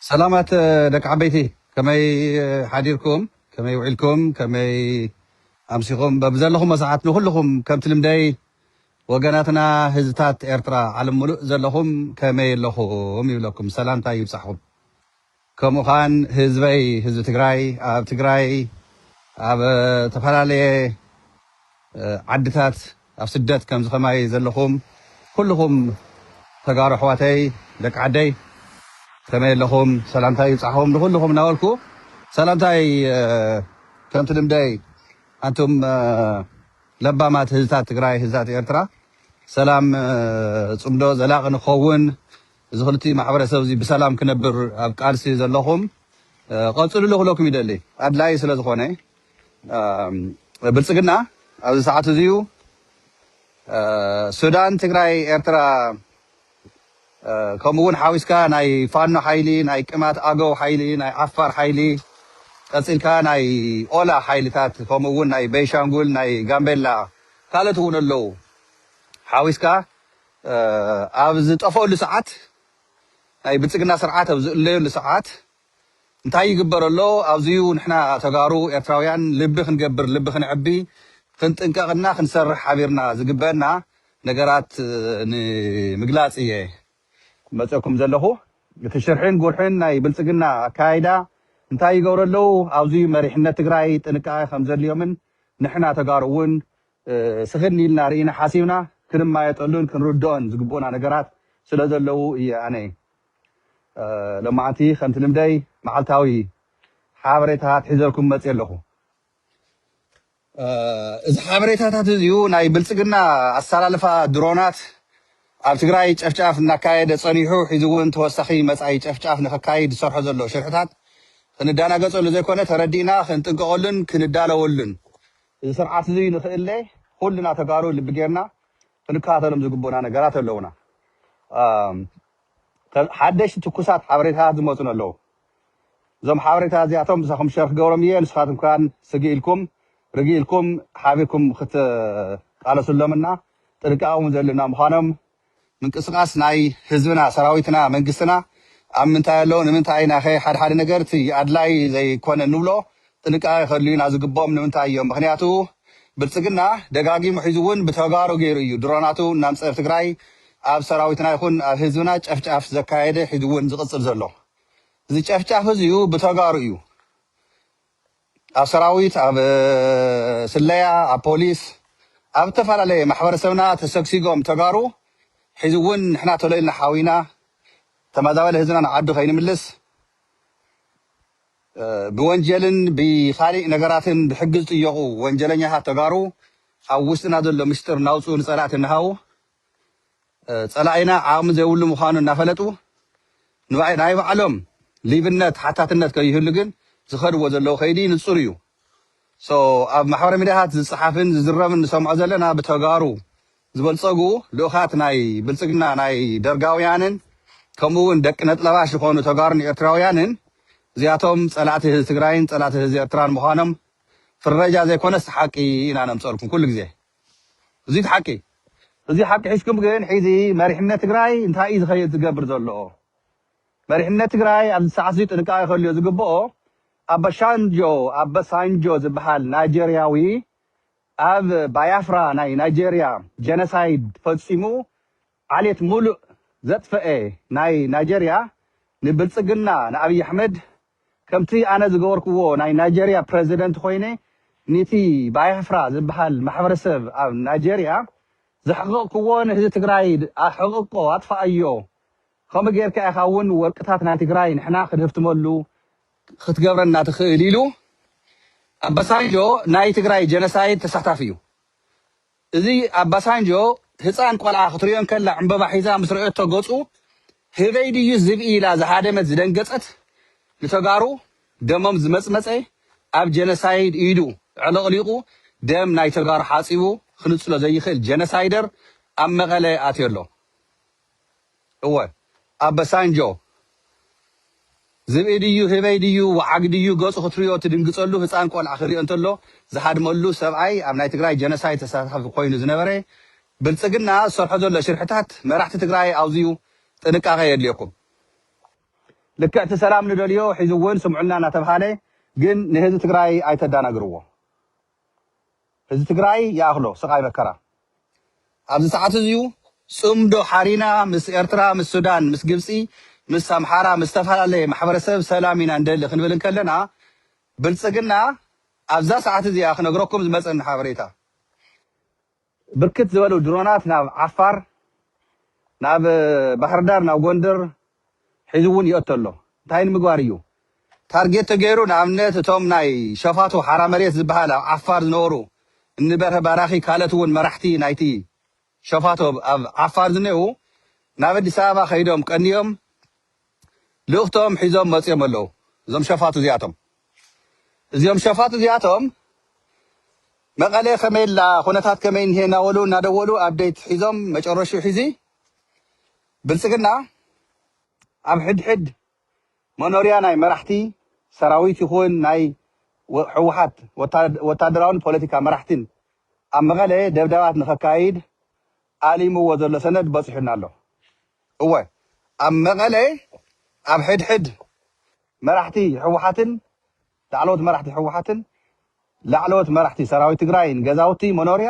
ሰላማት ደቂ ዓበይቲ ከመይ ሓዲርኩም ከመይ ውዒልኩም ከመይ ኣምሲኹም በብዘለኹሞ ሰዓት ንኹልኹም ከምቲ ልምደይ ወገናትና ህዝብታት ኤርትራ ዓለም ሙሉእ ዘለኹም ከመይ ኣለኹም ይብለኩም ሰላምታይ ይብጻሕኹም ከምኡኻን ህዝበይ ህዝቢ ትግራይ ኣብ ትግራይ ኣብ ተፈላለየ ዓድታት ኣብ ስደት ከምዚ ከማይ ዘለኹም ኩሉኹም ተጋሩ ኣሕዋተይ ደቂ ዓደይ ከመይ ኣለኹም ሰላምታይ ይብጻሕኹም ንኹሉኹም እናበልኩ ሰላምታይ ከምቲ ልምደይ ኣንቱም ለባማት ህዝታት ትግራይ ህዝታት ኤርትራ ሰላም ጽምዶ ዘላቒ ንክኸውን እዚ ክልቲኡ ማሕበረሰብ እዚ ብሰላም ክነብር ኣብ ቃልሲ ዘለኹም ቐፅልሉ ክብለኩም ይደሊ። ኣድላዪ ስለ ዝኾነ ብልፅግና ኣብዚ ሰዓት እዚዩ ሱዳን ትግራይ ኤርትራ ከምኡ እውን ሓዊስካ ናይ ፋኖ ሓይሊ ናይ ቅማት ኣገው ሓይሊ ናይ ዓፋር ሓይሊ ቀፂልካ ናይ ኦላ ሓይልታት ከምኡ እውን ናይ ቤንሻንጉል ናይ ጋምቤላ ካልኦት እውን ኣለዉ ሓዊስካ ኣብ ዝጠፈኣሉ ሰዓት፣ ናይ ብልጽግና ስርዓት ኣብ ዝእለየሉ ሰዓት እንታይ ይግበር ኣሎ፣ ኣብዚ'ዩ ንሕና ተጋሩ ኤርትራውያን ልቢ ክንገብር፣ ልቢ ክንዕቢ፣ ክንጥንቀቕ እና ክንሰርሕ ሓቢርና ዝግበእና ነገራት ንምግላጽ እየ ዝመጸእኩም ዘለኹ። እቲ ሽርሒን ጉርሒን ናይ ብልጽግና ኣከያይዳ እንታይ ይገብሩ ኣለዉ፣ ኣብዚ'ዩ መሪሕነት ትግራይ ጥንቃቐ ከምዘድልዮምን ንሕና ተጋሩ'ውን ስኽን ኢልና ርኢና ሓሲብና ክንማየጠሉን ክንርድኦን ዝግብኡና ነገራት ስለ ዘለዉ እየ ኣነ ሎማዓንቲ ከምቲ ልምደይ መዓልታዊ ሓበሬታ ኣትሒዘልኩም መፅየ ኣለኹ። እዚ ሓበሬታታት እዚኡ ናይ ብልፅግና ኣሰላልፋ ድሮናት ኣብ ትግራይ ጨፍጫፍ እናካየደ ፀኒሑ ሒዚ እውን ተወሳኺ መፃኢ ጨፍጫፍ ንኸካይድ ዝሰርሖ ዘሎ ሽርሕታት ክንዳናገፀሉ ዘይኮነ ተረዲእና ክንጥንቀቐሉን ክንዳለወሉን እዚ ስርዓት እዚ ንክእለ ኩልና ተጋሩ ልቢ ጌርና ክንከታተሎም ዝግቡኡና ነገራት ኣለዉና። ሓደሽቲ ትኩሳት ሓበሬታታት ዝመፁኒ ኣለዉ። እዞም ሓበሬታታት እዚኣቶም ምሳኹም ሸር ክገብሮም እየ። ንስኻትኩም ከኣ ስግእ ኢልኩም ርግእ ኢልኩም ሓቢርኩም ክትቃለሱሎም እና ጥንቃቐ እውን ዘድልዩና ምዃኖም ምንቅስቃስ ናይ ህዝብና ሰራዊትና መንግስትና ኣብ ምንታይ ኣሎ ንምንታይ ኢና'ኸ ሓድሓደ ነገር እቲ ኣድላይ ዘይኮነ ንብሎ ጥንቃቀ ከድልዩና ዝግብኦም ንምንታይ እዮም ምኽንያቱ ብልጽግና ደጋጊሙ ሒዙ ውን ብተጋሩ ጌሩ እዩ ድሮናቱ እናምጸ ኣብ ትግራይ ኣብ ሰራዊትና ይኹን ኣብ ህዝብና ጨፍጫፍ ዘካየደ ሒዙ ውን ዝቅጽል ዘሎ እዚ ጨፍጫፍ እዚዩ ብተጋሩ እዩ ኣብ ሰራዊት ኣብ ስለያ ኣብ ፖሊስ ኣብ ዝተፈላለየ ማሕበረሰብና ተሰግሲጎም ተጋሩ ሕዚ እውን ንሕና ቶሎ ኢልና ሓዊና ተመዛባሊ ህዝብና ንዓዱ ከይንምልስ ብወንጀልን ብኻሊእ ነገራትን ብሕጊ ዝጥየቑ ወንጀለኛታት ተጋሩ ኣብ ውሽጥና ዘሎ ምስጢር እናውፅኡ ንፀላእቲ እናሃቡ ጸላኢና ዓቕሚ ዘይብሉ ምዃኑ እናፈለጡ ናይ ባዕሎም ሊብነት ሓታትነት ከይህሉ ግን ዝኸድዎ ዘለዉ ከይዲ ንጹር እዩ። so ኣብ ማሕበራዊ ሚድያታት ዝጸሓፍን ዝዝረብን ንሰምዖ ዘለና ብተጋሩ ዝበልጸጉ ልኡኻት ናይ ብልጽግና ናይ ደርጋውያንን ከምኡ ውን ደቂ ነጥለባሽ ዝኾኑ ተጋሩን ኤርትራውያንን እዚኣቶም ጸላእቲ ህዝቢ ትግራይን ጸላእቲ ህዝቢ ኤርትራን ምዃኖም ፍረጃ ዘይኮነስ ሓቂ ኢና ነምጸልኩም ኩሉ ግዜ። እዙይ እቲ ሓቂ። እዙይ ሓቂ ሒዝኩም ግን ሕዚ መሪሕነት ትግራይ እንታይ እዩ ዝኸይድ ዝገብር ዘሎኦ? መሪሕነት ትግራይ ኣብዚ ሰዓት እዙይ ጥንቃቄ ከልዮ ዝግበኦ ኣበሻንጆ፣ ኣበሳንጆ፣ ዝብሃል ናይጀርያዊ ኣብ ባያፍራ ናይ ናይጀርያ ጀነሳይድ ፈፂሙ ዓሌት ሙሉእ ዘጥፈኤ ናይ ናይጀርያ ንብልጽግና ንኣብይ ኣሕመድ ከምቲ ኣነ ዝገበርክዎ ናይ ናይጀርያ ፕረዚደንት ኮይነ ኒቲ ባያፍራ ዝብሃል ማሕበረሰብ ኣብ ናይጀርያ ዘሕቕቕክዎ ንህዚ ትግራይ ኣሕቕቆ ኣጥፋኣዮ ከምኡ ጌርካ ኢኻ ውን ወርቅታት ናይ ትግራይ ንሕና ክንህብትመሉ ክትገብረና ትኽእል ኢሉ ኣበሳንጆ ናይ ትግራይ ጀነሳይድ ተሳታፊ እዩ እዚ ኣባሳንጆ ህጻን ቆልዓ ክትሪኦ እንከላ ዕንበባ ሒዛ ምስ ረኦቶ ገጹ ህበይ ድዩ ዝብኢ ኢላ ዝሃደመት ዝደንገጸት ንተጋሩ ደሞም ዝመጽመጸ ኣብ ጀነሳይድ ኢዱ ዕልቕሊቑ ደም ናይ ተጋሩ ሓጺቡ ክንጽሎ ዘይኽእል ጀነሳይደር ኣብ መቐለ ኣትዮ ኣሎ እወ ኣበሳንጆ ዝብኢ ድዩ ህበይ ድዩ ወዓግ ድዩ ገጹ ክትርእዮ ትድንግጸሉ ህጻን ቆልዓ ክርኦ እንተሎ ዝሃድመሉ ሰብኣይ ኣብ ናይ ትግራይ ጀነሳይድ ተሳታፊ ኮይኑ ዝነበረ ብልጽግና ዝሰርሖ ዘሎ ሽርሕታት መራሕቲ ትግራይ ኣውዝዩ ጥንቃቀ የድልየኩም ልክዕ እቲ ሰላም ንደልዮ ሒዙ ውን ስምዑና እናተብሃለ ግን ንህዝቢ ትግራይ ኣይተዳናግርዎ ህዝቢ ትግራይ ይኣኽሎ ስቓይ መከራ ኣብዚ ሰዓት እዚዩ ፅምዶ ሓሪና ምስ ኤርትራ ምስ ሱዳን ምስ ግብፂ ምስ ኣምሓራ ምስ ዝተፈላለየ ማሕበረሰብ ሰላም ኢና ንደሊ ክንብል እንከለና ብልፅግና ኣብዛ ሰዓት እዚኣ ክነግረኩም ዝመፀኒ ሓበሬታ ብርክት ዝበሉ ድሮናት ናብ ዓፋር፣ ናብ ባህርዳር፣ ናብ ጎንደር ሒዙ እውን ይእቶ ኣሎ። እንታይ ንምግባር እዩ? ታርጌት ተገይሩ ንኣብነት እቶም ናይ ሸፋቱ ሓራ መሬት ዝበሃል ኣብ ዓፋር ዝነበሩ እኒ በርሀ ባራኺ ካልኦት እውን መራሕቲ ናይቲ ሸፋቱ ኣብ ዓፋር ዝኔእዉ ናብ ኣዲስ ኣበባ ከይዶም ቀንዮም ልእኽቶም ሒዞም መጽዮም ኣለዉ እዞም ሸፋቱ እዚኣቶም እዚኦም ሸፋቱ እዚኣቶም መቐለ ከመይ ኣላ ኩነታት ከመይ እንሄ እናበሉ እናደወሉ ኣብዴት ሒዞም መጨረሹ ሒዚ ብልጽግና ኣብ ሕድሕድ መኖርያ ናይ መራሕቲ ሰራዊት ይኹን ናይ ሕወሓት ወታደራውን ፖለቲካ መራሕቲን ኣብ መቐለ ደብዳባት ንኸካይድ ኣሊምዎ ዘሎ ሰነድ በጺሑና ኣሎ። እወ ኣብ መቐለ ኣብ ሕድሕድ መራሕቲ ህወሓትን ላዕለዎት መራሕቲ ህወሓትን ላዕለዎት መራሕቲ ሰራዊት ትግራይን ገዛውቲ መኖርያ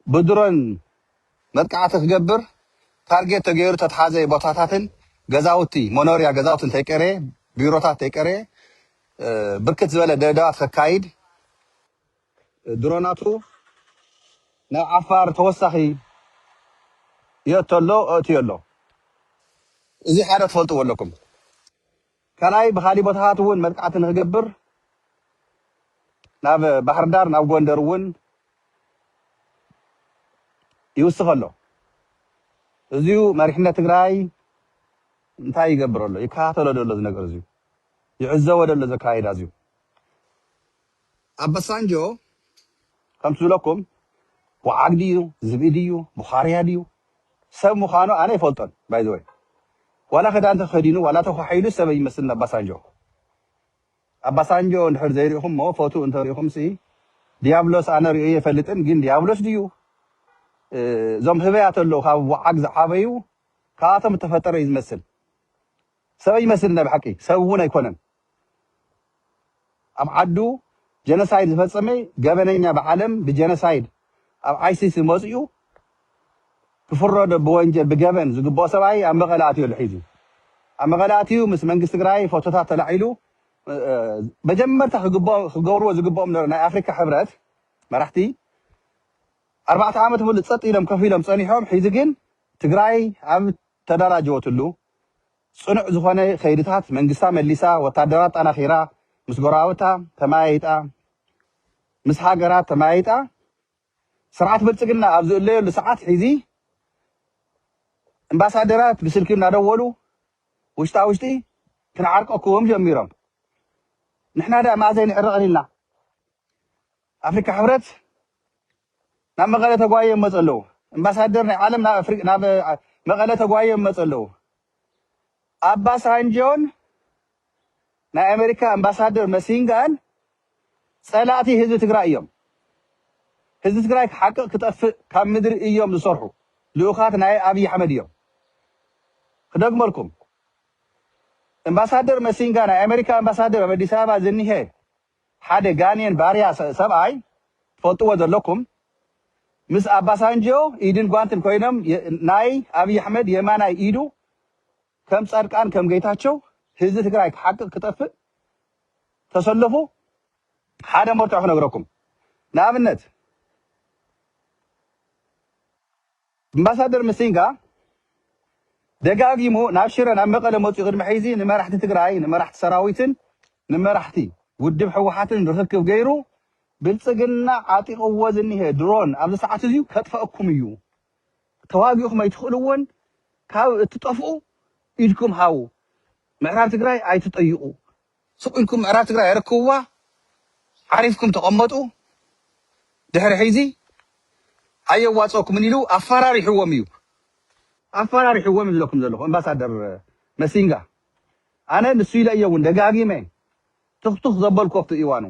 ብድሮን መጥቃዕቲ ክገብር ታርጌት ተገይሩ ተትሓዘ ቦታታትን ገዛውቲ መኖርያ ገዛውቲ እንተይቀረየ ቢሮታት እንተይቀረየ ብርክት ዝበለ ደብዳባት ከካይድ ድሮናቱ ናብ ዓፋር ተወሳኺ የእቶ ኣሎ ኣእትዮ ኣሎ እዚ ሓደ ትፈልጥዎ ኣለኩም ካልኣይ ብኻሊእ ቦታታት እውን መጥቃዕቲ ንክገብር ናብ ባህርዳር ናብ ጎንደር እውን ይውስኽ ኣሎ እዚዩ መሪሕነት ትግራይ እንታይ ይገብር ኣሎ ይከታተሎ ደሎ እዚ ነገር እዚዩ ይዕዘቦ ደሎ ዘካይዳ እዚዩ ኣባሳንጆ ከምቲ ዝብለኩም ወዓግ ድዩ ዝብኢ ድዩ ቡኻርያ ድዩ ሰብ ምዃኑ ኣነ ኣይፈልጦን ባይ ዘ ወይ ዋላ ክዳን ተኸዲኑ ዋላ ተኳሒሉ ሰብ ኣይመስልን ኣባሳንጆ ኣባሳንጆ እንድሕር ዘይሪእኹሞ ፎቱ እንተሪእኹምሲ ዲያብሎስ ኣነ ሪኦ የፈልጥን ግን ዲያብሎስ ድዩ እዞም ህበያት ኣለዉ ካብ ወዓግ ዝዓበዩ ካብኣቶም እተፈጠረ እዩ ዝመስል ሰበይ ይመስል ናይ ብሓቂ ሰብ እውን ኣይኮነን ኣብ ዓዱ ጀነሳይድ ዝፈፀመ ገበነኛ ብዓለም ብጀነሳይድ ኣብ ኣይሲስ መፂኡ ክፍረዶ ብወንጀል ብገበን ዝግበኦ ሰብኣይ ኣብ መቐለ ኣትዮ ኣሎ ሒዙ ኣብ መቐለ ኣትዩ ምስ መንግስቲ ትግራይ ፎቶታት ተላዒሉ መጀመርታ ክገብርዎ ዝግበኦም ነሮ ናይ ኣፍሪካ ሕብረት መራሕቲ ኣርባዕተ ዓመት ሙሉእ ፀጥ ኢሎም ከፍ ኢሎም ፀኒሖም ሒዚ ግን ትግራይ ኣብ ተደራጀወትሉ ፅኑዕ ዝኾነ ከይድታት መንግስታ መሊሳ ወታደራ ኣጣናኺራ ምስ ጎረባብታ ተመያይጣ ምስ ሃገራት ተመያይጣ ስርዓት ብልፅግና ኣብ ዝእለየሉ ሰዓት ሒዚ እምባሳደራት ብስልኪ እናደወሉ ውሽጣ ውሽጢ ክንዓርቀኩም ጀሚሮም ንሕና ዳ መኣዘይ ንዕረቕን ኢልና ኣፍሪካ ሕብረት ናብ መቐለ ተጓይዮም መፁ ኣለው። እምባሳደር ናይ ዓለም ናብ መቐለ ተጓይዮም መፁ ኣለው። ኣባ ሳንጆን ናይ ኣሜሪካ እምባሳደር መሲንጋን ፀላእቲ ህዝቢ ትግራይ እዮም። ህዝቢ ትግራይ ሓቂ ክጠፍእ ካብ ምድሪ እዮም ዝሰርሑ። ልኡኻት ናይ ኣብይ ኣሕመድ እዮም። ክደግመልኩም እምባሳደር መሲንጋ ናይ ኣሜሪካ እምባሳደር ኣብ ኣዲስ ኣበባ ዝኒሀ ሓደ ጋኔን ባርያ ሰብኣይ ትፈልጥዎ ዘለኩም ምስ ኣባሳንጆ ኢድን ጓንትን ኮይኖም ናይ ኣብይ ኣሕመድ የማናይ ኢዱ ከም ፃድቃን ከም ገይታቸው ህዝቢ ትግራይ ክሓቅቅ ክጠፍእ ተሰለፉ ሓደ መርትዖ ክነግረኩም ንኣብነት ኣምባሳደር ምሲንጋ ደጋጊሙ ናብ ሽረ ናብ መቐለ መፂኡ ቅድሚ ሕይዚ ንመራሕቲ ትግራይ፣ ንመራሕቲ ሰራዊትን ንመራሕቲ ውድብ ህወሓትን ርኽክብ ገይሩ ብልፅግና ዓጢቕዎ ዝኒሀ ድሮን ኣብዚ ሰዓት እዙይ ከጥፈኣኩም እዩ፣ ተዋጊእኹም ኣይትኽእልዎን ካብ እትጠፍኡ ኢድኩም ሃቡ፣ ምዕራብ ትግራይ ኣይትጠይቑ ስቅ ኢልኩም ምዕራብ ትግራይ ኣረክብዋ ዓሪፍኩም ተቀመጡ ድሕሪ ሕዚ ኣየዋፀኩምን ኢሉ ኣፋራሪሕዎም እዩ ኣፋራሪሕዎም እዩ ዝብለኩም ዘለኩ ኣምባሳደር መሲንጋ ኣነ ንሱ ኢለ እየ እውን ደጋጊመ ትክቱክ ዘበልኮ ኣብቲ እዋኑ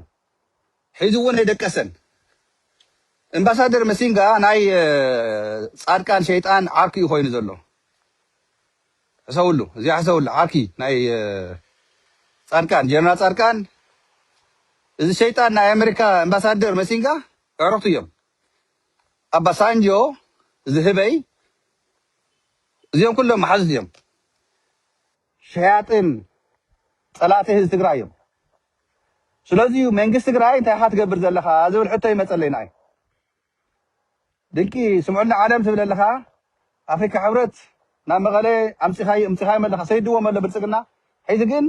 ሒዙ'ውን ኣይደቀሰን። እምባሳደር መሲንጋ ናይ ጻድቃን ሸይጣን ዓርኩ እዩ ኮይኑ ዘሎ ሕሰብሉ እዚኣ ሕሰብሉ ዓርኪ ናይ ጻድቃን ጀነራል ጻድቃን እዚ ሸይጣን ናይ ኣመሪካ እምባሳደር መሲንጋ ዕረክቱ እዮም ኣባሳንጆ ዝህበይ እዚኦም ኩሎም መሓዙት እዮም ሸያጥን ጸላእቲ ህዝቢ ትግራይ እዮም። ስለዚ እዩ መንግስቲ ትግራይ እንታይ ኢኻ ትገብር ዘለኻ ዝብል ሕቶ ይመፀለይ ንኣይ። ድንቂ ስምዑኒ ዓለም ትብል ኣለኻ ኣፍሪካ ሕብረት ናብ መቐለ ኣምፂኻዮ እምፂኻዮም ኣለኻ ሰይድዎም ኣሎ ብልፅግና ሕዚ ግን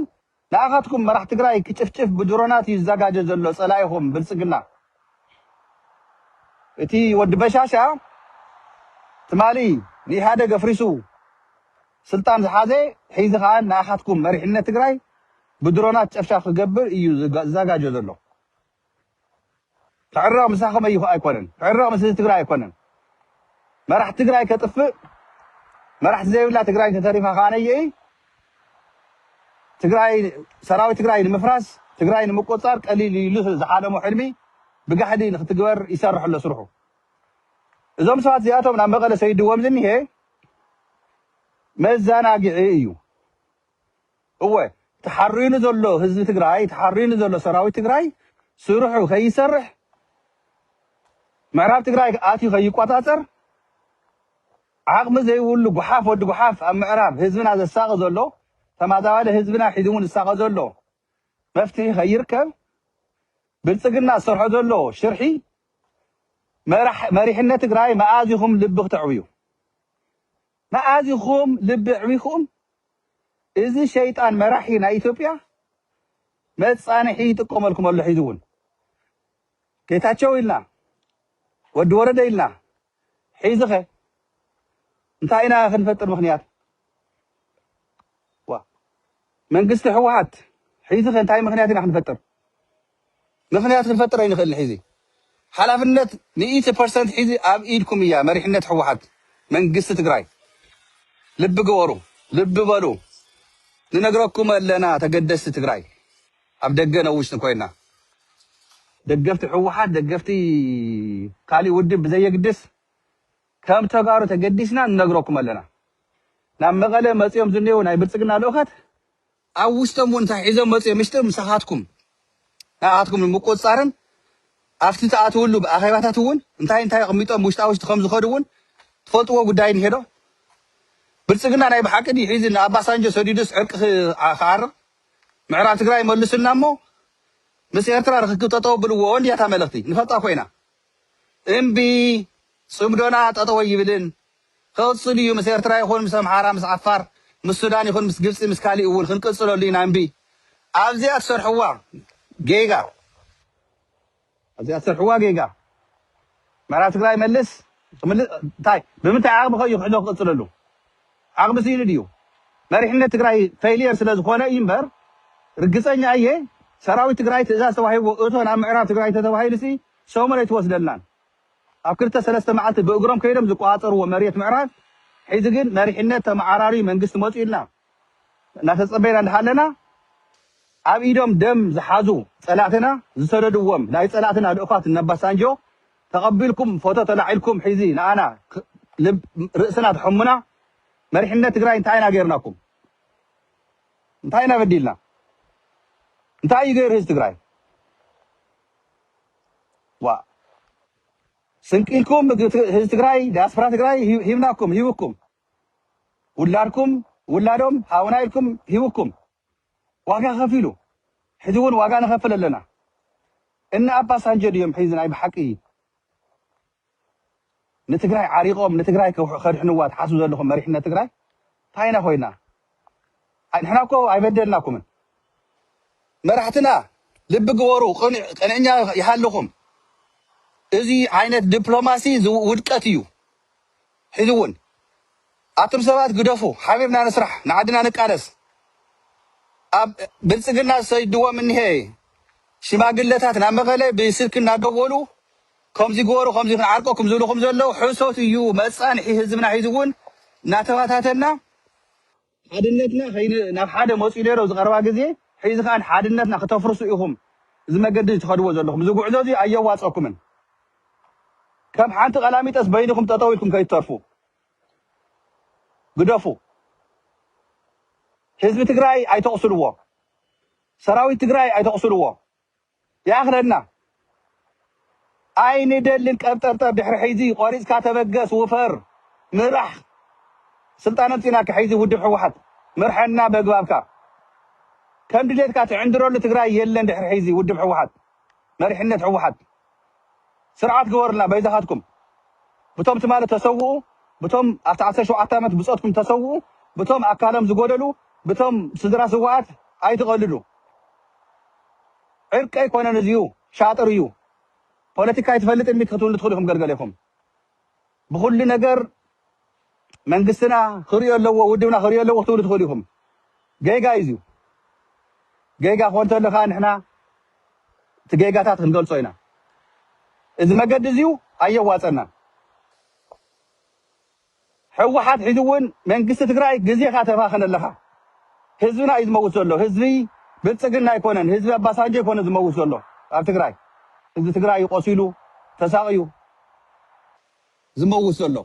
ንኣኻትኩም መራሕ ትግራይ ክጭፍጭፍ ብድሮናት እዩ ዝዘጋጀ ዘሎ ፀላኢኹም ብልፅግና እቲ ወዲ በሻሻ ትማሊ ንኢህኣደግ ኣፍሪሱ ስልጣን ዝሓዘ ሒዚ ከኣ ንኣኻትኩም መሪሕነት ትግራይ ብድሮናት ጨፍጫፍ ክገብር ኢዩ ዝዛጋጆ ዘሎ ክዕረቕ ምሳኹም ኣዩ ኣይኮነን ክዕረቕ ምስ ህዝቢ ትግራይ ኣይኮነን መራሕቲ ትግራይ ከጥፍእ መራሕቲ ዘይብላ ትግራይ እንተተሪፋ ከኣ ነይኢ ትግራይ ሰራዊት ትግራይ ንምፍራስ ትግራይ ንምቆጻር ቀሊል ኢሉ ዝሓለሞ ሕልሚ ብጋሕዲ ንክትግበር ይሰርሕ ኣሎ ስርሑ እዞም ሰባት እዚኣቶም ናብ መቐለ ሰይድዎም ዝኒሀ መዛናግዒ እዩ እወ ተሓሪኑ ዘሎ ህዝቢ ትግራይ ተሓሪኑ ዘሎ ሰራዊት ትግራይ ስርሑ ከይሰርሕ ምዕራብ ትግራይ ኣትዩ ከይቆፃፀር ዓቕሚ ዘይብሉ ጉሓፍ ወዲ ጉሓፍ ኣብ ምዕራብ ህዝብና ዘሳቐ ዘሎ ተማዛባሊ ህዝብና ሒዝሙ ዝሳቐ ዘሎ መፍትሒ ከይርከብ ብልፅግና ዝሰርሖ ዘሎ ሽርሒ መሪሕነት ትግራይ መኣዝ ኢኹም ልቢ ክተዕብዩ? መኣዝ ኢኹም ልቢ ኣዕቢኹም እዚ ሸይጣን መራሒ ናይ ኢትዮጵያ መፃንሒ ይጥቀመልኩም ኣሎ። ሒዚ እውን ጌታቸው ኢልና ወዲ ወረደ ኢልና ሒዚኸ እንታይ ኢና ክንፈጥር ምኽንያት ዋ መንግስቲ ሕወሓት ሒዚኸ እንታይ ምኽንያት ኢና ክንፈጥር ምኽንያት ክንፈጥር ኣይንኽእልን ሒዚ ሓላፍነት ሚእቲ ፐርሰንት ሒዚ ኣብ ኢድኩም እያ መሪሕነት ሕወሓት መንግስቲ ትግራይ ልቢ ግበሩ ልቢ በሉ ንነግረኩም ኣለና ተገደስቲ ትግራይ ኣብ ደገ ን ውሽጢ ኮይና ደገፍቲ ህወሓት ደገፍቲ ካሊእ ውድብ ብዘየግድስ ከም ተጋሩ ተገዲስና ንነግረኩም ኣለና ናብ መቐለ መፂኦም ዝኔዉ ናይ ብልፅግና ልኡኻት ኣብ ውሽጦም እውን እንታይ ሒዞም መፅኦም ምሽጢ ምሳኻትኩም ንኣኻትኩም ንምቁፅፃርን ኣብቲ ትኣትውሉ ኣኼባታት እውን እንታይ እንታይ ኣቕሚጦም ውሽጣ ውሽጢ ከም ዝኸዱ እውን ትፈልጥዎ ጉዳይ እንሄዶ ብልፅግና ናይ ብሓቂ ድዩ ሒዚ ንኣባሳንጆ ሰዲዱስ ዕርቂ ክዓርቕ ምዕራብ ትግራይ መሉሱልና እሞ ምስ ኤርትራ ርኽክብ ጠጠው ኣብልዎ እንድያ እታ መልእኽቲ ንፈልጣ ኮይና እምቢ ጽምዶና ጠጠው ኣይብልን ክቕጽል እዩ ምስ ኤርትራ ይኹን ምስ ኣምሓራ ምስ ዓፋር ምስ ሱዳን ይኹን ምስ ግብጺ ምስ ካሊእ እውን ክንቅጽለሉ ኢና እምቢ ኣብዚኣ ትሰርሕዋ ጌጋ ኣዚኣ ትሰርሕዋ ጌጋ ምዕራብ ትግራይ መልስ ክምልስ እንታይ ብምንታይ ዓቅሚ ከ እዩ ክሕዶ ክቅፅለሉ ዓቅሚ ስኢኑ ድዩ መሪሕነት ትግራይ ፈይልየር ስለ ዝኮነ እዩ እምበር ርግፀኛ እየ ሰራዊት ትግራይ ትእዛዝ ተዋሂብዎ እቶ ናብ ምዕራብ ትግራይ እንተተባሂሉሲ ሰሙን ኣይትወስደልናን ኣብ ክልተ ሰለስተ መዓልቲ ብእግሮም ከይዶም ዝቆፃፀርዎ መሬት ምዕራብ ሒዚ ግን መሪሕነት ተመዓራርዩ መንግስቲ መፅዩልና እናተጸበይና እንዳሃለና ኣብ ኢዶም ደም ዝሓዙ ጸላእትና ዝሰደድዎም ናይ ጸላእትና ልኡኻት እነ ኣባሳንጆ ተቐቢልኩም ፎቶ ተላዒልኩም ሕዚ ንኣና ርእስና ትሕሙና መሪሕነት ትግራይ እንታይ ኢና ገይርናኩም እንታይ ኢና በዲልና እንታይ እዩ ገይሩ ህዝቢ ትግራይ ዋ ስንቂ ኢልኩም ህዝቢ ትግራይ ዲያስፖራ ትግራይ ሂብናኩም ሂብኩም ውላድኩም ውላዶም ሃቡና ኢልኩም ሂቡኩም ዋጋ ከፊሉ ሕዚ ውን ዋጋ ንከፍል ኣለና እነ ኣባሳንጆ ድዮም ሕዚ ናይ ብሓቂ ንትግራይ ዓሪቆም ንትግራይ ከድሕንዋ ትሓስቡ ዘለኹም መሪሕነት ትግራይ ታይ ኢና ኮይና ንሕና እኮ ኣይበደልናኩምን መራሕትና ልቢ ግበሩ ቅንዕኛ ይሃልኹም እዚ ዓይነት ዲፕሎማሲ ውድቀት እዩ ሕዚ እውን ኣቱም ሰባት ግደፉ ሓቢርና ንስራሕ ንዓድና ንቃለስ ኣብ ብልፅግና ዝሰይድዎም እኒሀ ሽማግለታት ናብ መቐለ ብስልኪ እናደወሉ ከምዚ ግበሩ ከምዚ ክንዓርቀኩም ዝብልኹም ዘለዉ ሕሶት እዩ መፃንሒ ህዝብና ሒዚ እውን እናተባታተና ሓድነትና ከይን ናብ ሓደ መጽዩ ነይሮ ዝቀረባ ግዜ ሒዚ ከኣ ሓድነትና ክተፍርሱ ኢኩም እዚ መገዲ እዚ ትከድዎ ዘለኩም እዚ ጉዕዞ እዚ ኣየዋጸኩምን ከም ሓንቲ ቀላሚጠስ በይንኩም ጠጠው ኢልኩም ከይትተርፉ ግደፉ ህዝቢ ትግራይ ኣይተቁስልዎ ሰራዊት ትግራይ ኣይተቁስልዎ ይኣኽለና ኣይንደልን ቀብጠርጠር ድሕሪ ሕይዚ ቆሪጽካ ተበገስ ውፈር ምራሕ ስልጣን ኣምጺናካ ሕይዚ ውድብ ሕውሓት ምርሐና በግባብካ ከምድሌትካ ትዕንድረሉ ትግራይ የለን ድሕሪ ሕይዚ ውድብ ሕውሓት መሪሕነት ሕውሓት ስርዓት ግበሩልና በይዛኻትኩም ብቶም ትማሊ ተሰውኡ ብቶም ኣብቲ ዓሰርተ ሸውዓተ ኣመት ብጾትኩም ተሰውኡ ብቶም ኣካሎም ዝጎደሉ ብቶም ስድራ ስውኣት ኣይትቐልዱ ዕርቂ ኣይኮነን እዚዩ ሻጥር እዩ ፖለቲካ ኣይትፈልጥን ዲኪ ክትብሉ ትኽእሉ ኢኹም ገልገሌኹም ብኹሉ ነገር መንግስትና ክሪኦ ኣለዎ ውድብና ክሪኦ ኣለዎ ክትብሉ ትኽእሉ ኢኹም። ጌጋ እዩ እዚዩ። ጌጋ ክኾን ተሎ ከኣ ንሕና እቲ ጌጋታት ክንገልጾ ኢና። እዚ መገዲ እዚዩ ኣየዋጸናን። ሕወሓት ሒዚ እውን መንግስቲ ትግራይ ግዜኻ ተባኽን ኣለኻ። ህዝብና እዩ ዝመውት ዘሎ። ህዝቢ ብልጽግና ኣይኮነን፣ ህዝቢ ኣባሳንጆ ኣይኮነን ዝመውት ዘሎ ኣብ ትግራይ። ህዝቢ ትግራይ እዩ ቆሲሉ ተሳቕዩ። ዝመውት ዘሎ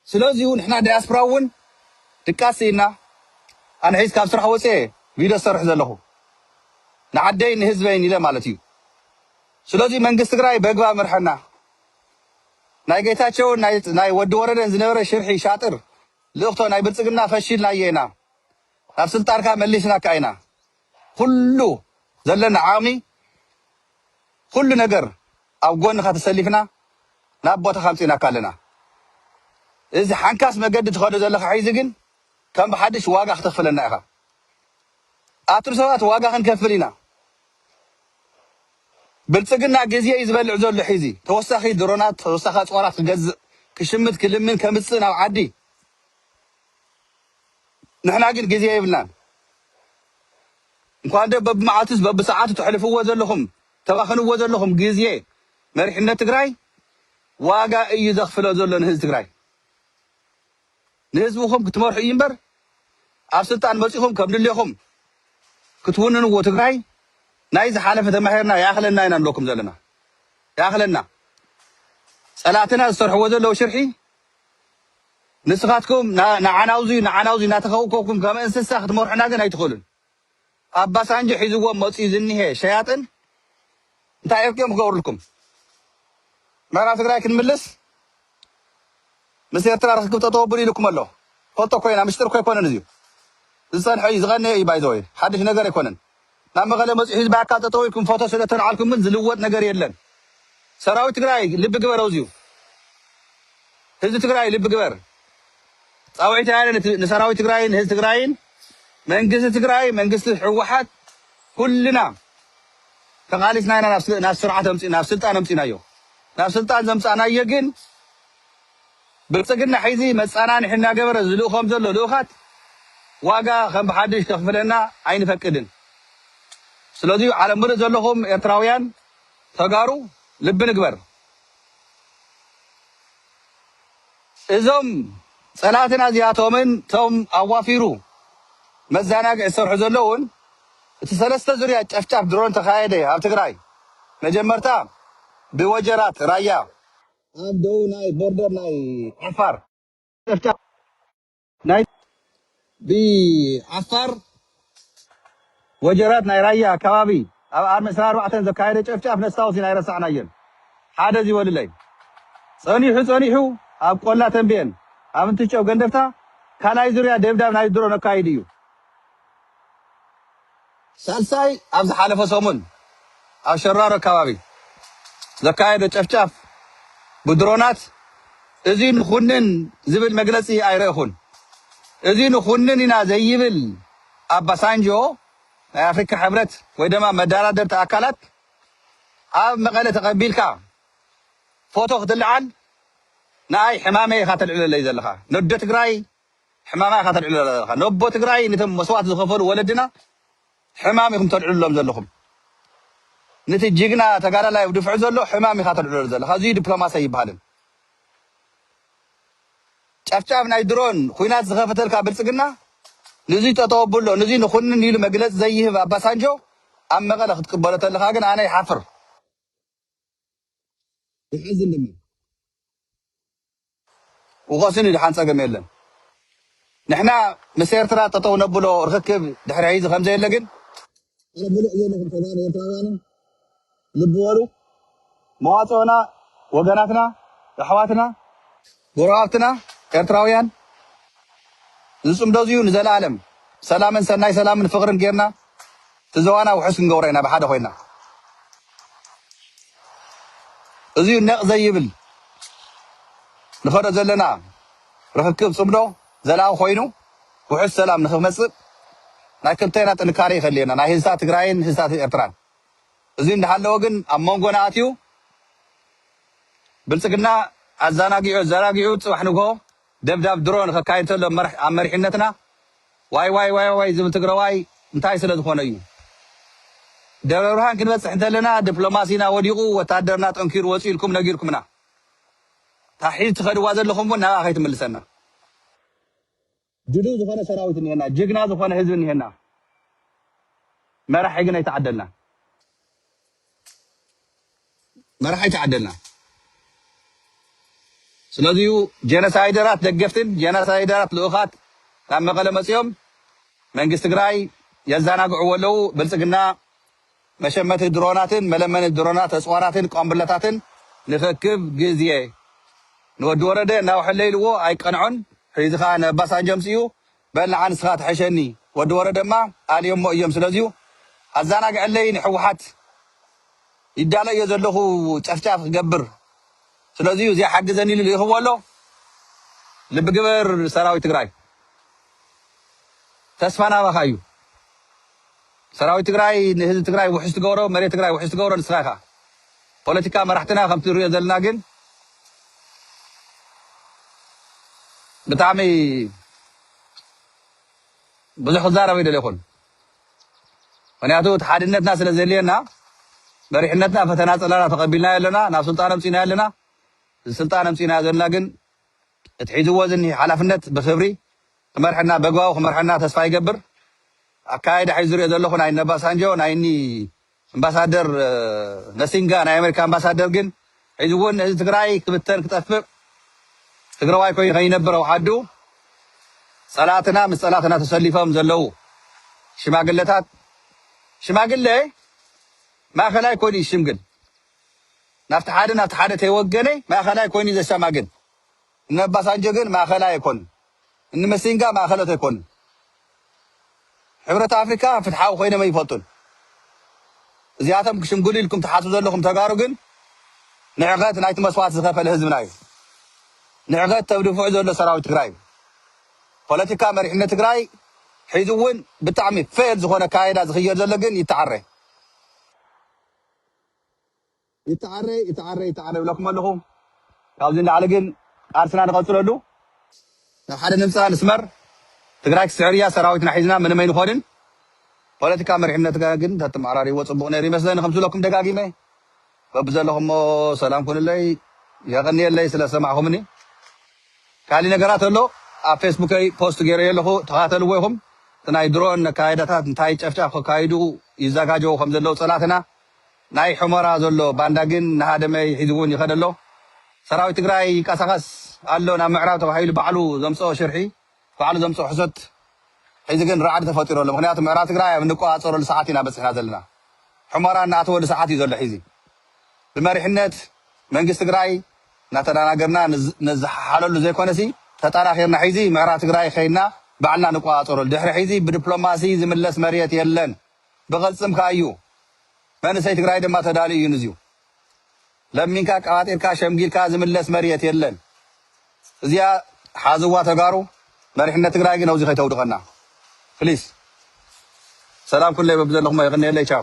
ስለዚዩ ንሕና ዳያስፕራ ውን ድቃስ ሲኢንና ኣነ ሒዚ ካብ ስራሕ ወጽየ ቪዶ ዝሰርሕ ዘለኹ ንዓደይን ንህዝበይን ኢለ ማለት እዩ ስለዚዩ መንግስት ትግራይ በግባብ ምርሐና ናይ ገይታቸውን ናይ ወዲ ወረደን ዝነበረ ሽርሒ ሻጥር ልእኽቶ ናይ ብልጽግና ፈሺልናዮ ኢና ናብ ስልጣንካ መሊስናካ ኢና ኩሉ ዘለና ዓቕሚ ኩሉ ነገር ኣብ ጎንኻ ተሰሊፍና ናብ ቦታኻ ኣምጺእናካ ኣለና። እዚ ሓንካስ መገዲ ትኸዶ ዘለኻ ሕዚ ግን ከም ብሓድሽ ዋጋ ክተኽፍለና ኢኻ። ኣቱም ሰባት ዋጋ ክንከፍል ኢና። ብልጽግና ግዜ እዩ ዝበልዕ ዘሎ ሒዚ ተወሳኺ ድሮናት ተወሳኺ ኣጽዋራት ክገዝእ ክሽምት ክልምን ከምጽእ ናብ ዓዲ። ንሕና ግን ግዜ የብልናን እንኳን ዶ በብመዓልቱስ በብሰዓቱ ተሕልፍዎ ዘለኹም ተባኽንዎ ዘለኹም ግዜ መሪሕነት ትግራይ ዋጋ እዩ ዘኽፍሎ ዘሎ ንህዝቢ ትግራይ ንህዝብኹም ክትመርሑ እዩ እምበር ኣብ ስልጣን መፂኹም ከም ድሌኹም ክትውንንዎ ትግራይ ናይ ዝሓለፈ ተማሂርና ይኣኽለና ኢና ንብለኩም ዘለና ይኣኽለና ፀላእትና ዝሰርሕዎ ዘለዉ ሽርሒ ንስኻትኩም ንዓናውዙይ ንዓናውዙይ እናተኸውከብኩም ከም እንስሳ ክትመርሑና ግን ኣይትኽእሉን። ኣባሳንጆ ሒዝዎም መፅዩ ዝኒሀ ሸያጥን እንታይ እርቂ እዮም ክገብሩልኩም? ምዕራብ ትግራይ ክንምልስ ምስ ኤርትራ ርክክብ ጠጠው ኣብሉ ኢሉኩም ኣሎ። ፈልጦ ኮይና ምሽጥር እኮ ኣይኮነን እዚዩ። ዝፀንሐ እዩ ዝቐነየ እዩ ባይዘወይ ሓድሽ ነገር ኣይኮነን። ናብ መቐለ መፂኡ ህዝቢ ኣካል ጠጠው ኢልኩም ፎቶ ስለተልዓልኩም ግን ዝልወጥ ነገር የለን ሰራዊት ትግራይ ልቢ ግበር ኣውዚኡ ህዝቢ ትግራይ ልቢ ግበር ፃውዒት ያለ ንሰራዊት ትግራይን ህዝቢ ትግራይን መንግስቲ ትግራይ መንግስቲ ሕወሓት ኩልና ተቓሊስና ኢና ናብ ስርዓት ኣምፂ ናብ ስልጣን ኣምፂናዮ ናብ ስልጣን ዘምፃእናዮ ግን ብልፅግና ሕዚ መፀናንሒ እናገበረ ዝልእኾም ዘሎ ልኡኻት ዋጋ ከም ብሓዱሽ ከኽፍለና ኣይንፈቅድን ስለዙይ ዓለም ምሉእ ዘለኹም ኤርትራውያን ተጋሩ ልቢ ንግበር እዞም ፀላእትና እዚኣቶምን እቶም ኣዋፊሩ መዛናግዒ ዝሰርሑ ዘለዉን እቲ ሰለስተ ዙርያ ጨፍጫፍ ድሮን ተኻየደ ኣብ ትግራይ መጀመርታ ብወጀራት ራያ ኣብ ደቡብ ናይ ቦርደር ናይ ዓፋር ጨፍጫፍ ናይ ብዓፋር ወጀራት ናይ ራያ ከባቢ ኣብ ኣርሚ ዕስራን ኣርባዕተን ዘካየደ ጨፍጫፍ ነስታውስ ኢና ኣይረሳዕናዮን። ሓደ ዚበልለይ ጸኒሑ ጸኒሑ ኣብ ቆላ ተምቤን ኣብ እንትጨው ገንደፍታ ካልኣይ ዙርያ ደብዳብ ናይ ድሮ ነካይድ እዩ። ሳልሳይ ኣብ ዝሓለፈ ሰሙን ኣብ ሸራሮ ኣከባቢ ዘካየዶ ጨፍጫፍ ብድሮናት እዚ ንኹንን ዝብል መግለጺ ኣይረእኹን። እዚ ንኹንን ኢና ዘይብል ኣባሳንጆ ናይ ኣፍሪካ ሕብረት ወይ ደማ መዳራደርቲ ኣካላት ኣብ መቐለ ተቐቢልካ ፎቶ ክትልዓል ንኣይ ሕማመይ ኢኻ ተልዕለለይ ዘለኻ ነዶ ትግራይ ሕማማ ኢኻ ተልዕሎ ዘለኻ ነቦ ትግራይ ንቶም መስዋእቲ ዝኸፈሉ ወለድና ሕማም ኢኹም ተልዕሉሎም ዘለኹም ንቲ ጅግና ተጋዳላይ ኣብ ድፍዕ ዘሎ ሕማም ኢኻ ተልዕሎ ዘለኻ እዙይ ዲፕሎማሲ ኣይበሃልን ጨፍጫፍ ናይ ድሮን ኹናት ዝኸፈተልካ ብልፅግና ንዙይ ጠጠው ኣብሎ ንዙይ ንኹንን ኢሉ መግለፂ ዘይህብ ኣባሳንጆ ኣብ መቐለ ክትቅበሎ ተለኻ ግን ኣነ ይሓፍር ይሓዝን ድማ። ውቀሱኒ ድሓን ጸገም የለን። ንሕና ምስ ኤርትራ ጠጠው ነብሎ ርኽክብ ድሕሪ ሕይዚ ከምዘየለ ግን። ኣነ ብሉዕ ዘለኹም ተጋሩ ኤርትራውያንን ልቢ በሉ መዋጽኦና ወገናትና ኣሕዋትና። ጎረባብትና ኤርትራውያን ዝጽምዶ እዚዩ ንዘላኣለም ሰላምን ሰናይ ሰላምን ፍቅርን ጌርና እቲ ዘዋና ውሑስ ክንገብሮ ኢና ብሓደ ኮይና እዚዩ ነቅ ዘይብል ንከዶ ዘለና ርክክብ ጽምዶ ዘላቂ ኮይኑ ውሑስ ሰላም ንክመጽእ ናይ ክልቴና ጥንካሬ ይከልየና ናይ ህዝታት ትግራይን ህዝታት ኤርትራን እዚዩ እንዳሃለወ ግን ኣብ መንጎና ኣትዩ ብልጽግና ኣዛናጊዑ ኣዘራጊዑ ጽባሕ ንግሆ ደብዳብ ድሮን ከካይድ ተሎ ኣብ መሪሕነትና ዋይዋይዋይዋይ ዝብል ትግረዋይ እንታይ ስለ ዝኾነ እዩ? ደብረብርሃን ክንበጽሕ እንተለና ድፕሎማሲና ወዲቑ ወታደርና ጠንኪሩ ወጽዩ ኢልኩም ነጊርኩምና። እታ ሒዝ ትኸድዋ ዘለኹም እውን ናብኣ ከይትምልሰና። ድልው ዝኾነ ሰራዊት እኒሀና ጅግና ዝኾነ ህዝቢ እኒሀና መራሒ ግን ኣይተዓደልናን መራሒ ኣይተዓደልናን ስለዚዩ ጀነሳይደራት ደገፍትን ጀነሳይደራት ልኡኻት ካብ መቐለ መፅኦም መንግስቲ ትግራይ የዛናግዕዎ ኣለው ብልፅግና መሸመቲ ድሮናትን መለመኒ ድሮናት ኣጽዋራትን ቋምብላታትን ንክክብ ግዜ ንወዲ ወረደ እናወሐለ ኢልዎ ኣይቀንዖን ሕዚ ከኣ ንኣባሳንጆ ኣምጺኡ በል ንዓ ንስኻ ትሐሸኒ ወዲ ወረደማ ኣልዮሞ እዮም ስለዚዩ ኣዛናግዐለይ ንሕወሓት ይዳለዮ ዘለኹ ጨፍጫፍ ክገብር ስለዚዩ እዚኣ ሓግዘኒ ኢሉ ልኢኽዎ ኣሎ ልቢ ግበር ሰራዊት ትግራይ ተስፋና ኣባኻ እዩ። ሰራዊት ትግራይ ንህዝቢ ትግራይ ውሕስ ትገብሮ መሬት ትግራይ ውሕስ ትገብሮ ንስኻ ኢኻ ፖለቲካ መራሕትና ከምቲ ንሪኦ ዘለና ግን ብጣዕሚ ብዙሕ ክዛረብ ኣይደለኹን ምክንያቱ እቲ ሓድነትና ስለ ዘድልየና መሪሕነትና ፈተና ፀላና ተቐቢልናዮ ኣለና ናብ ስልጣን ኣምፂናዮ ኣለና እዚ ስልጣን ኣምፂናዮ ዘለና ግን እቲ ሒዝዎ ዝኒሀ ሓላፍነት ብኽብሪ ክመርሐና በግባቡ ክመርሐና ተስፋ ይገብር። ኣካያይዳ ሒዙ ዝሪኦ ዘለኹ ናይ እነባሳንጆ ናይ እኒ እምባሳደር ነሲንጋ ናይ ኣሜሪካ ኣምባሳደር ግን ሒዝዎ ንህዝቢ ትግራይ ክብተን ክጠፍእ ትግራዋይ ኮይኑ ከይነብር ኣውሓዱ ፀላእትና ምስ ፀላእትና ተሰሊፎም ዘለዉ ሽማግለታት ሽማግለ ማእኸላይ ኮን እዩ ሽምግል ናብቲ ሓደ ናብቲ ሓደ ተይወገነ ማእኸላይ ኮይኑ ዘሻማግል እኒ ኣባሳንጆ ግን ማእኸላይ ኣይኮኑን እኒ መሲንጋ ማእኸሎት ኣይኮኑን ሕብረት ኣፍሪካ ፍትሓዊ ኮይኖም ኣይፈልጡን እዚኣቶም ክሽምግሉ ኢልኩም ትሓስቡ ዘለኹም ተጋሩ ግን ንዕቀት ናይቲ መስዋእቲ ዝኸፈለ ህዝብና እዩ ንዕቀት ተብድፍዑ ዘሎ ሰራዊት ትግራይ እዩ ፖለቲካ መሪሕነት ትግራይ ሒዙ እውን ብጣዕሚ ፌል ዝኾነ ካይዳ ዝኽየድ ዘሎ ግን ይተዓረ ይተዓረ ይተዓረ ይተዓረ ይብለኩም ኣለኹ ካብዚ ንላዕሊ ግን ቃልስና ንቐፅለሉ ናብ ሓደ ንምፃእ ንስመር ትግራይ ክትስዕር እያ ሰራዊትና ሒዝና ምንም ኣይንኾንን ፖለቲካ መሪሕነትካ ግን ተተመዓራሪዎ ፅቡቕ ነይሩ ይመስለኒ ከም ዝብለኩም ደጋጊመ በብዘለኹሞ ሰላም ኩኑለይ የቐንየለይ ስለ ዝሰማዕኹምኒ ካሊእ ነገራት ኣሎ ኣብ ፌስቡከይ ፖስት ገይረዮ ኣለኹ ተኻተልዎ ኢኹም እቲ ናይ ድሮን ኣካይዳታት እንታይ ጨፍጫፍ ከካይዱ ይዛጋጀዉ ከም ዘለዉ ፀላእትና ናይ ሑመራ ዘሎ ባንዳ ግን ንሃደመይ ሒዙ ውን ይኸድ ኣሎ ሰራዊት ትግራይ ይቃሳቀስ ኣሎ ናብ ምዕራብ ተባሂሉ ባዕሉ ዘምፀኦ ሽርሒ ባዕሉ ዘምፀኦ ሕሶት ሕዚ ግን ራዕዲ ተፈጢሩ ኣሎ ምኽንያቱ ምዕራብ ትግራይ ኣብ እንቆፃፀረሉ ሰዓት ኢና በፂሕና ዘለና ሑመራ እናኣተወሉ ሰዓት እዩ ዘሎ ሒዚ ብመሪሕነት መንግስቲ ትግራይ እናተዳናገርና ንዝሓሓለሉ ዘይኮነሲ ተጣራኪርና ሒዚ ምዕራ ትግራይ ከይድና ባዕልና ንቆፃፀረሉ ድሕሪ ሒዚ ብድፕሎማሲ ዝምለስ መርየት የለን ብቅልፅም ካኣ እዩ መንእሰይ ትግራይ ድማ ተዳልዩ እዩ ንዚዩ ለሚንካ ኣቀባጢርካ ሸምጊልካ ዝምለስ መርየት የለን እዚኣ ሓዝዋ ተጋሩ መሪሕነት ትግራይ ግን ኣብዙይ ከይተውድቀና ፕሊስ ሰላም ኩለይ በብዘለኹሞ የቅንየለይ ቻው።